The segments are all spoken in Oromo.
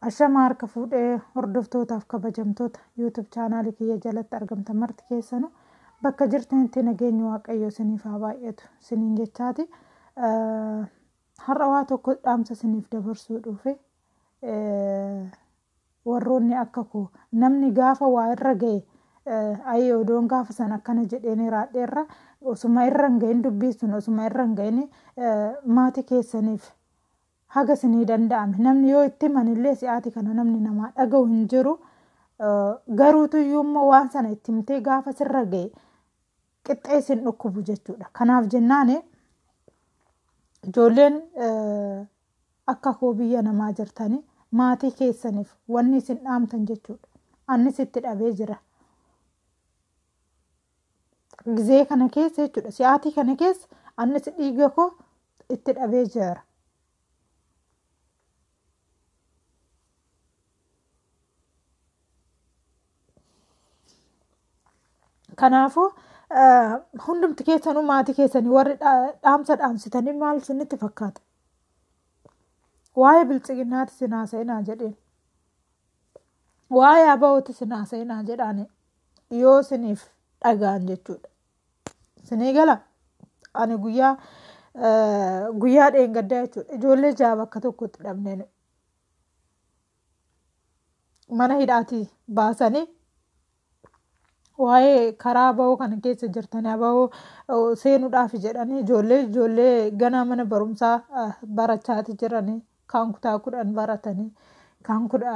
Ashama harka fuudhee hordoftootaaf kabajamtoota YouTube chaanaalii kiyya jalatti argamtan marti keessanu bakka jirtanitti nageenyi waaqayyoo isiniif haa baay'atu isiniin jechaati har'a waa tokko dhaamsa isiniif dabarsuu dhufe warroonni akka koo namni gaafa waa irra ga'e ayii odoon gaafa san akkana jedheen raadheerra osuma irra hin ga'in dubbiin sun osuma irra hin ga'in maatii keessaniif Haga isinii danda'ame. Namni yoo itti himani illee si'aati kana namni namaa dhaga'u hin jiru. Garuutu iyyuu immoo waan sana itti himtee gaafa sirra ga'e qixxee isin dhukkubu jechuudha. Kanaaf jennaan ijoolleen akka koo biyya namaa jirtanii maatii keessaniif wanni isin dhaamtan jechuudha. Annis itti dhabee jira. Gizee kana keessa jechuudha. Si'aatii kana keessa annis dhiiga koo itti dhabee jira. Kanaafuu hundumti keessanuu maatii keessanii warri dhaamsa dhaamsitanii maal isinitti fakkaata? Waa'ee bilchiginnaati isin haasa'inaa jedheen. Waa'ee abaa'ooti isin haasa'inaa jedhaani. yoo siniif dhagaan jechuudha. Sinii gala ani guyyaa guyyaa dheengaddaa jechuudha. Ijoollee ja'a bakka tokkotti dhabneen mana hidhaatii baasanii waa'ee karaa bahoo kana keessa jirtanii bahoo seenuudhaaf jedhanii ijoollee ijoollee ganaa mana barumsaa barachaati jiranii kaan kutaa kudhan baratanii kaan kudha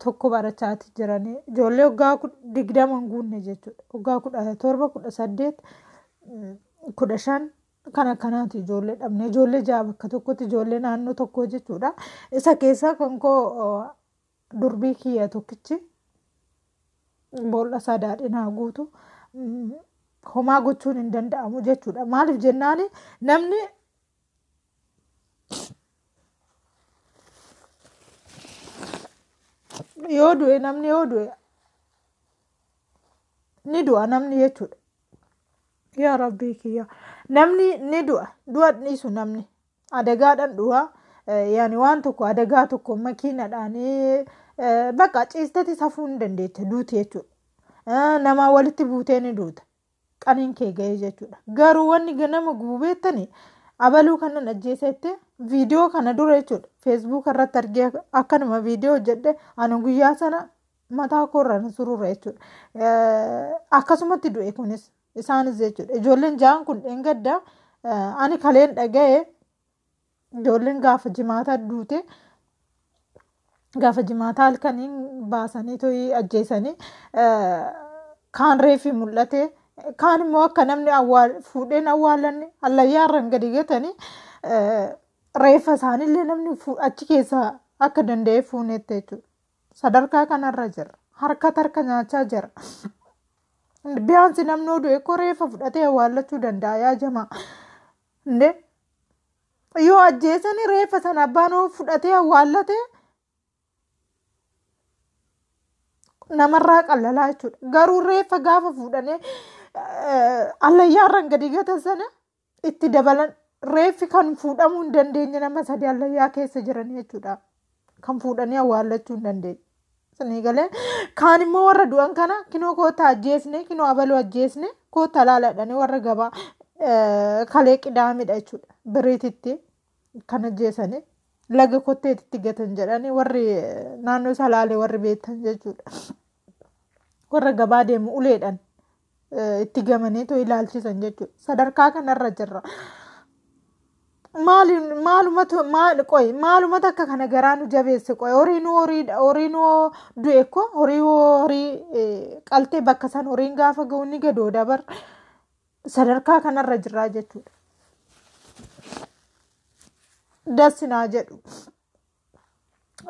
tokko barachaati jiranii ijoollee waggaa digdama hin guunne jechuudha waggaa kudha torba kudha saddeet kudha shan kan akkanaati ijoollee dhabne ijoollee ja'a bakka tokkotti ijoollee naannoo tokkoo jechuudha isa keessaa kan koo durbii kiyya tokkichi boolla isaa daadhinaa guutu homaa gochuun hin danda'amu jechuudha maaliif jennaani namni yoo du'e namni yoo du'e ni du'a namni jechuudha yaa rabbii kiyya namni ni du'a du'a dhiisu namni adagaadhaan du'a eh, yaani waan tokko adagaa tokko makiinadhaan eh, bakka ciisteti safuu hin dandeette duuti jechuudha Eh, namaa walitti buutee ni duuta qaniin kee ga'ee jechuudha. Garuu wanni nama gubu beektani abaluu kanan ajjeesa jettee viidiyoo kana dura jechuudha feesbuuka irratti argee akkanuma viidiyoo hojjedhe ani guyyaa sana mataa koorraan sururra jechuudha. Akkasumatti du'e kunis isaanis jechuudha ijoolleen ja'an kun dheengaddaa ani kaleen dhaga'e Ijoolleen gaafa jimaataa duute gaafa jimaataa halkaniin baasanii to'ii ajjeesanii kaan reefi mul'ate kaan immoo akka namni fuudheen awwaalan hallayyaa irraan gadi gatanii reeffa isaaniillee namni achi keessaa akka danda'e fuunetti jechuudha. Sadarkaa kanarra jira. Harkatti harka nyaachaa jira. Biyyaansi namni oduu eekkoo reeffa fudhatee awwaallachuu danda'a yaa jamaa. Ndee yoo ajjeesanii reeffa sana abbaan hoo fudhatee awwaallatee namarraa qallalaa jechuudha. Garuu reeffa gaafa fuudhanii allayyaarran gadi gatan sana itti dabalan reeffi kan fuudhamuu hin dandeenye nama sadii allayyaa keessa jiran jechuudha. kan fuudhanii awwaallachuu hin dandeenye. Sinii galee kaan immoo warra du'an kana kinoo koota ajjeesne kinoo abaluu ajjeesne koota laaladhanii warra gabaa eh, kalee qidaamidha jechuudha biriititti kan ajjeesanii laga kotteetitti gatan jedhanii warri eh, naannoo salaalee warri beektan jechuudha. warra gabaa deemu uleedhan itti gamaneetoo ilaalchisan jechuudha. Sadarkaa kanarra jirra. Maalumatu maal qoy maalumatu akka kana garaa nu jabeesse qoy horiin horiidha horiin hoo du'e ko horii hoo horii qaltee bakka san horiin gaafa ga'u ni gadoo dabar sadarkaa kanarra jirraa jechuudha. Das naa jedhu.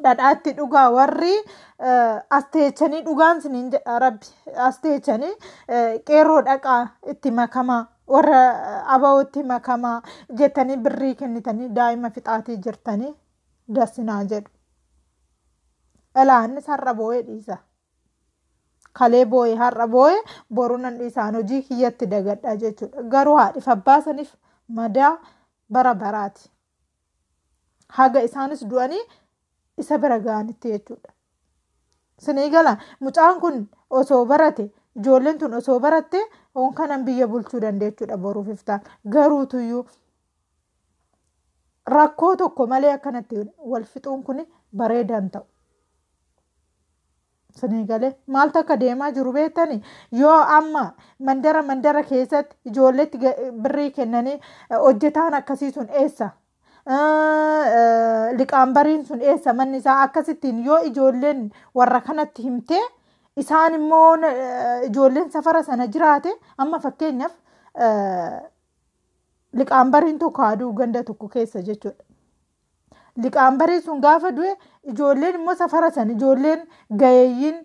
dhadhaatti dhugaa warri asteechanii dhugaan siniin jedha rabbi asteechanii qeerroo dhaqaa itti makamaa warra abawootti makamaa jettanii birrii kennitanii daa'ima fixaatii jirtanii dasinaa jedhu. Ilaannis har'a boo'ee dhiisa. Kalee boo'ee har'a boo'ee boruu nan dhiisaan hojii kiyyatti dagadhaa jechuudha. Garuu haadhiif abbaa saniif madaa bara baraati. haga isaanis du'anii isa bira ga'anitti jechuudha. Sinii gala mucaan kun osoo barate ijoolleen tun osoo baratte oon kanan biyya bulchuu dandeechuudha boruuf iftaan garuutuyyuu rakkoo tokko malee akkanatti wal fixuun kun bareedan ta'u. Sinii galee maaltu akka deemaa jiru beektani yoo amma mandara mandara keessatti ijoolleetti ga- birrii kennanii eh, hojjetaan akkasii sun eessa Eh, eh, liqaanbariin sun eessa manni isaa akkasittiin yoo ijoolleen warra kanatti himtee isaan immoo eh, ijoolleen safara sana jiraate amma fakkeenyaaf eh, liqaanbariin tokko aduu ganda tokko keessa jechuudha. liqaanbaree sun gaafa du'e ijoolleen immoo safara san ijoolleen gayeeyyiin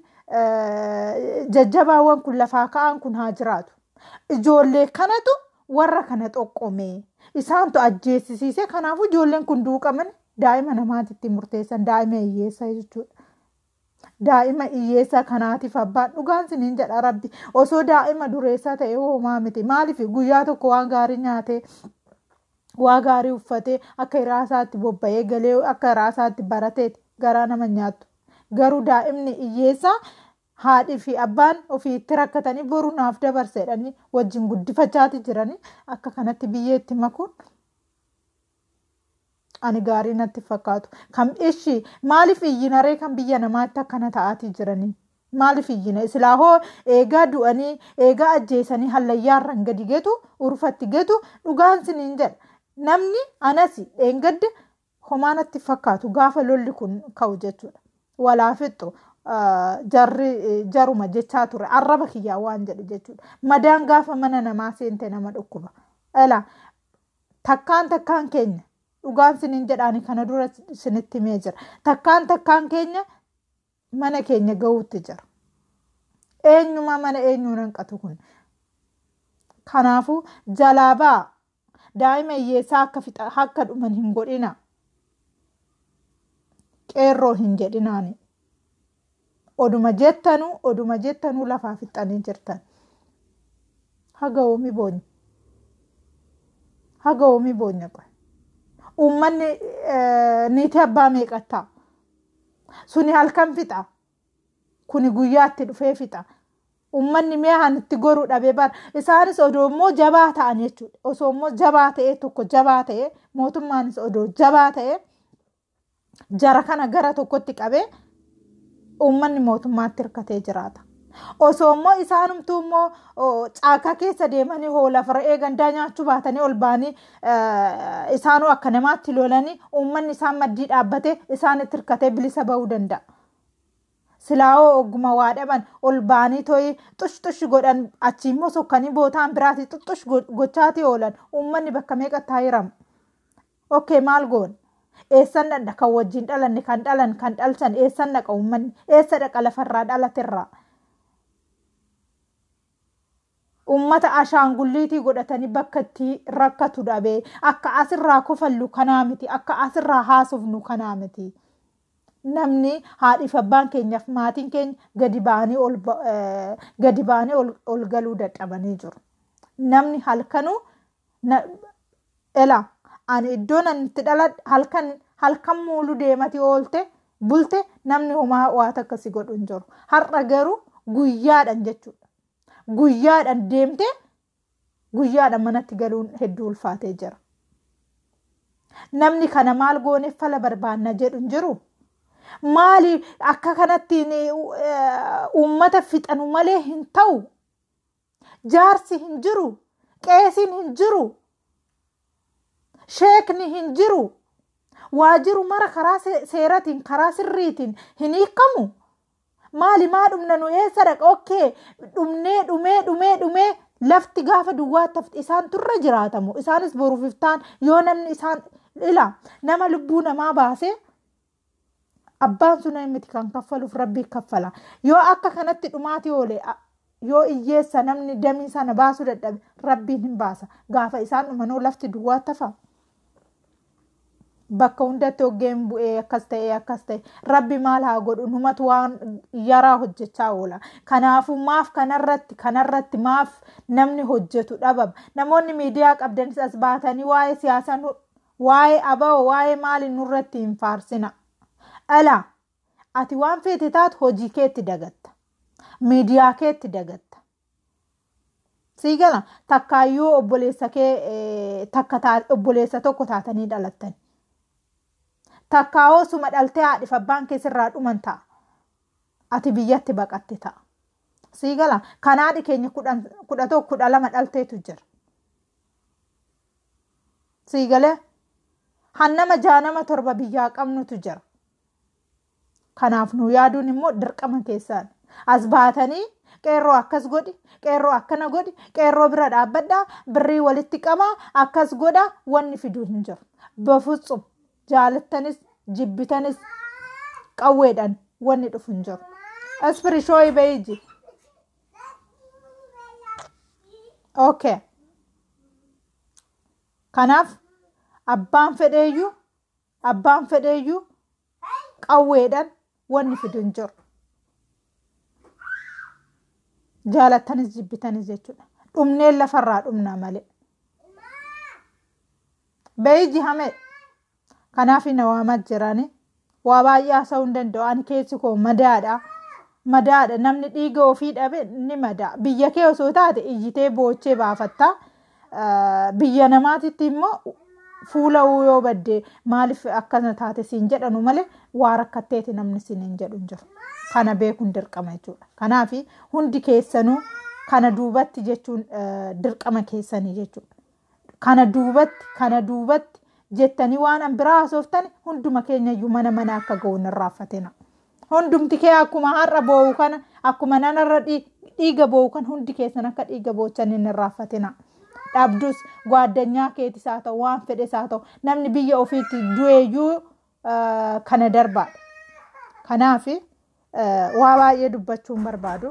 jajjabaawwan kun lafaa ka'an kun haa jiraatu. Ijoollee kanatu warra kana xoqqomee isaantu ajjeesisiisee kanaafuu ijoolleen kun duuqaman daa'ima namaatitti murteessan daa'ima hiyyeessaa jechuudha. Daa'ima iyyeessaa kanaatiif abbaan dhugaan siniin jedha rabbi osoo daa'ima dureessaa ta'e hoomaa miti maaliif guyyaa tokko waan gaarii nyaatee waa gaarii uffatee akka iraasaatti bobba'ee galee akka iraasaatti barateeti garaa nama nyaattu garuu daa'imni iyyeessaa haadhii fi abbaan ofii itti rakkatanii boru naaf dabarseedhanii wajjin guddifachaati jiranii akka kanatti biyyeetti makuun Ani gaarii natti fakkaatu. Kan ishi maaliif iyyina ree kan biyya namaatti akkana ta'aatii jiranii? Maaliif iyyina? Silaa hoo eegaa du'anii eegaa ajjeesanii hallayyaarra hin gadi getu urfatti getu dhugaan siniin jedha. Namni anasi dheengadda homaa natti fakkaatu gaafa lolli kun ka'u jechuudha. Walaa fixxu jarri jaruma jechaa ture arraba kiyyaa waan jedhu jechuudha. Madaan gaafa mana namaa seente nama dhukkuba. Elaa Takkaan takkaan keenya dhugaan sinin jedhaani kana dura sinitti himee jira. Takkaan takkaan keenya mana keenya ga'uutti jira. Eenyumaa mana eenyuun hanqatu kun. Kanaafuu jalaa ba'a. Daa'ima hiyyeessaa akka fixa akka dhuman hin godhina. Qeerroo hin jedhinaani. Oduma jettanu oduma jettanu lafaa fixxanii jirtan. Haga oomi boonya. Haga oomi boonya qoy. Uummanni eh, niitii abbaa meeqattaa? Suni halkan fixa. Kuni guyyaa itti dhufee fixa. Uummanni mi'a kan itti goru dhabee bara. Isaanis odoo immoo jabaa ta'an jechuudha. Osoo immoo jabaa ta'ee tokko jabaa ta'ee mootummaanis odoo jabaa ta'ee jara kana gara tokkotti qabee uummanni mootummaatti hirkatee jiraata. Osoo immoo isaanumtuu immoo caakaa keessa deemanii hoola fara'ee gandaa nyaachuu baatanii ol ba'anii isaanuu akka namaatti lolanii uummanni isaan maddii dhaabbatee isaanitti hirkatee bilisa ba'uu danda'a. Silaawoo ogguma waa dhaban ol ba'anii to'ii xush xush godhan achii immoo sokkanii bootaan biraatii xuxxush gochaatii oolan uummanni bakka meeqa taa'iramu. Ok maal goona? Eessan dhaqna kan wajjin dhalanne kan dhalan kan dhalchan eessan dhaqa uummanni? Eessa dhaqa lafarraa dhalaterraa? Uummata ashaangulliitii godhatanii bakka itti rakkatu dhabee akka asirraa kofallu kanaa miti akka asirraa haasofnu kanaa miti. Namni haadhiif abbaan keenyaaf maatiin keenya gadi ba'anii ol gadi ba'anii ol galuu dadhabanii jiru. Namni halkanuu na ela ani iddoo nan itti dhaladhe halkan halkan muulu deemati oolte bulte namni homaa waa takka si godhu hin jiru har'a garuu guyyaadhan jechuudha guyyaadhan deemtee guyyaadhan manatti galuun hedduu ulfaatee jira namni kana maal goone fala barbaanna jedhu hin jiru maali akka kanattiin eh, uummata fixanu malee hin ta'u jaarsi hin jiru qeesiin hin jiru sheekni hin jiru waa jiru mara karaa se- seeratiin karaa sirriitiin hin hiikamu maali maa dhumna nu eessa dhaqa okkee dhumnee dhumee dhumee dhumee lafti gaafa duwwaa tafti isaan turre jiraatamu isaanis boruuf iftaan yoo namni isaan ila nama lubbuu namaa baasee abbaan sun miti kan kaffaluuf rabbii kaffala yoo akka kanatti dhumaati oole yoo iyyeessa namni damii sana baasuu dadhabe rabbiin hin baasa gaafa isaan dhumanoo lafti duwwaa tafa bakka hundatti hoggeen bu'ee akkas ta'ee akkas ta'e rabbi maal haa godhu numatu waan yaraa hojjechaa oola kanaafuu maaf kanarratti kanarratti maaf namni hojjetu dhabama namoonni miidiyaa qabdanis as baatanii waa'ee siyaasaa Waa'ee abo waa'ee maali nurratti hin faarsina. Ela ati waan feete taatu hojii keetti dagatta. Miidiyaa keetti dagatta. Sii gala takkaayyuu obboleessa kee eh, takka taa- obboleessa tokko taatanii dhalattan. Takkaa hoo suma dhaltee haadhif abbaan kee sirraa dhuman ta'a. Ati biyyatti baqatte ta'a. Sii gala kan haadhi keenya kudhan- kudha tokko kudha lama dhalteetu jira. sii galee hannama jaanama torba biyyaa qabnutu jira kanaaf nu yaaduun immoo dirqama keessaan as baatanii qeerroo akkas godhi qeerroo akkana godhi qeerroo bira dhaabbadhaa birrii walitti qabaa akkas godha wanni fiduu hin jiru bafutsum jaalattanis jibbitanis qawweedhaan wanni dhufu hin jiru aspirishooyi beeyji Okay. Kanaaf abbaan fedheeyyuu abbaan fedheeyyuu qawweedhaan wanni fidu hin jiru. Jaalattanis jibbitanis jechuudha. Dhumneen lafarraa dhumna malee. Beeyji hamee. Kanaafi na waamaa jirani. Waa baay'ee haasa'uu hin danda'u. Ani keessi koo madaadha. Madaadha. Namni dhiiga ofii dhabe ni madaa. Biyya kee osoo taate iyyitee boochee baafatta. Eh, Biyya namaatitti immoo fuula yoo badde maaliif akkana taate siin jedhanu malee waa rakkatteeti namni siin hin jedhu hin jiru. Kana beekuun dirqama jechuudha. Kanaafi hundi keessanuu kana duubatti jechuun eh, dirqama keessanii jechuudha. Kana duubatti, kana duubatti jettanii waan an biraa haasooftani hunduma keenya iyyuu mana mana akka ga'uun hin raaffatina. Hundumti kee akkuma har'a boo'u kana, akkuma nan har'a dhii- dhiiga boo'u kan hundi keessan akka dhiiga boochan hin raaffatina. Dhabdus gwaaddanyaa keetis haa ta'u, waan fedhes haa ta'u, namni biyya ofiitti du'eeyyuu ah, kana darbaadha. Kanaaf waa baay'ee dubbachuun barbaadu.